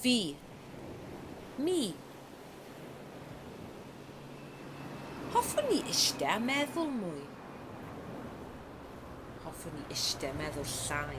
Fi. Mi. Hoffwn i iste a meddwl mwy. Hoffwn i iste a meddwl llai.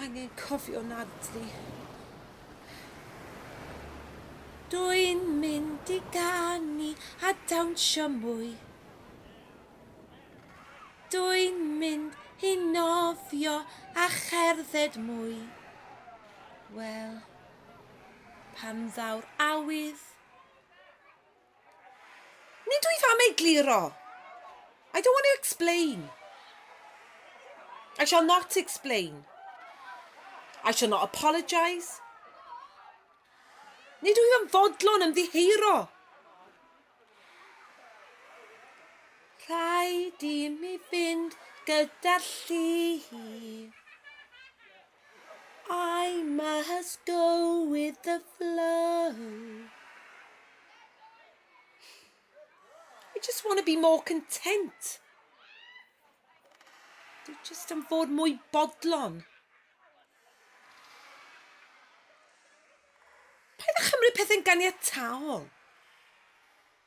angen cofio naddi. Dwi'n mynd i ganu a dawnsio mwy. Dwi'n mynd i nofio a cherdded mwy. Wel, pan ddaw'r awydd, Nid wyf am egluro. I don't want to explain. I shall not explain. I shall not apologise. Nid wyf yn fodlon ymddiheuro. Rhaid i mi fynd gyda lli. I must go with the flow. I just want to be more content. Dwi just yn fod mwy bodlon. Paid â chymryd pethau'n ganiataol.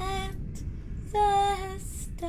at fy ystas.